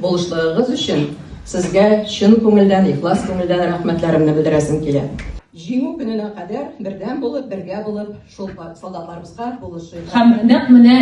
Булышлыгыгыз өчен сезгә чын күңелдән, ихлас күңелдән рәхмәтләремне белдерәсем килә. Җиңү көненә кадәр бердәм булып, бергә булып шул солдатларыбызга булышыйк. Һәм нәкъ менә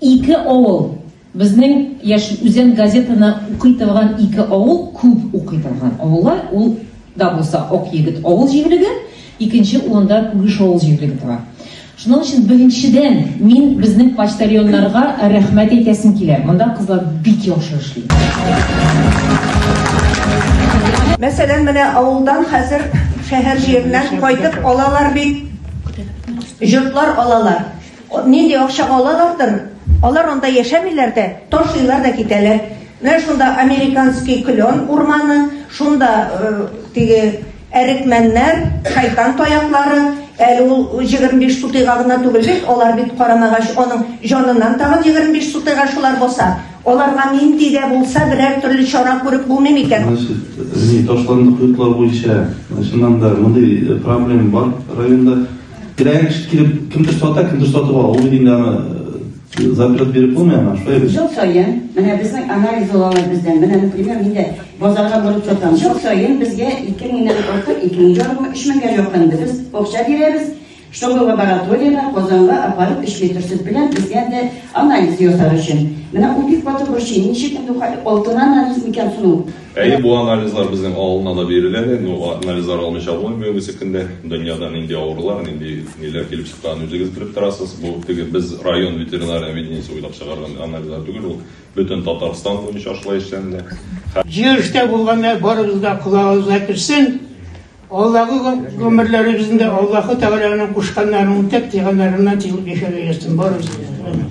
ике авыл, безнең Яшел Үзән газетаны укый торган ике авыл, күп укый торган авыллар, ул да булса Акъегет авыл җирлеге, икенче урында Күгеш авыл җирлеге тора. Шуның өчен беренчедән мин безнең почтальоннарга рәхмәт әйтәсем килә. Монда кызлар бик яхшы эшли. Мәсәлән, менә авылдан хәзер шәһәр җиреннән кайтып алалар бит, йортлар алалар. Нинди акчага алалардыр, алар анда яшәмиләр дә, ташлыйлар да китәләр. Менә шунда американский клен урманы, шунда теге Әрекмәннәр, шайтан таяклары, әле ул җегерме биш сутыйга гына түгел бит, алар бит карамагач аның җаныннан тагын егерме биш сутыйга шулар баса. Аларга нинди дә булса берәр төрле чара күреп булмый микән? Значит, ни, ташландык йортлар буенча, чыннан да, мондый проблем бар районда. Кирәгән кеше килеп, кемдер сата, кемдер сатып ала, ул бит инде аны Заклад биреп булмый аңа, шулай бит? Ел саен, менә безнең анализ алалар бездән. Менә, например, мин дә базарга барып сатам. Ел саен безгә 2 меңнән артык, 2 мең ярым, 3 меңгә якын без акча бирәбез, чтобы лабораториягә Казанга апарып 3 литр сөт белән безгә дә анализ ясар өчен. Менә ул бик каты борчый, ничек инде ул алтын анализ микән соң ул? Әйе, бу анализлар безнең авылына да бирелә әле, но анализлар алмыйча булмый бүгенге көндә. Дөньяда нинди авырулар, нинди ниләр килеп чыкканын үзегез белеп торасыз. Бу теге без район ветеринар объединениесе уйлап чыгарган анализлар түгел, ул бөтен Татарстан буенча шулай эшләнелә. Җыелышта булганнар барыбыз да колагыбызга керсен, алдагы гомерләребезендә Аллаһы Тәгаләнең кушканнарын үтәп, тыйганнарыннан тыелып яшәргә язсын барыбызны да.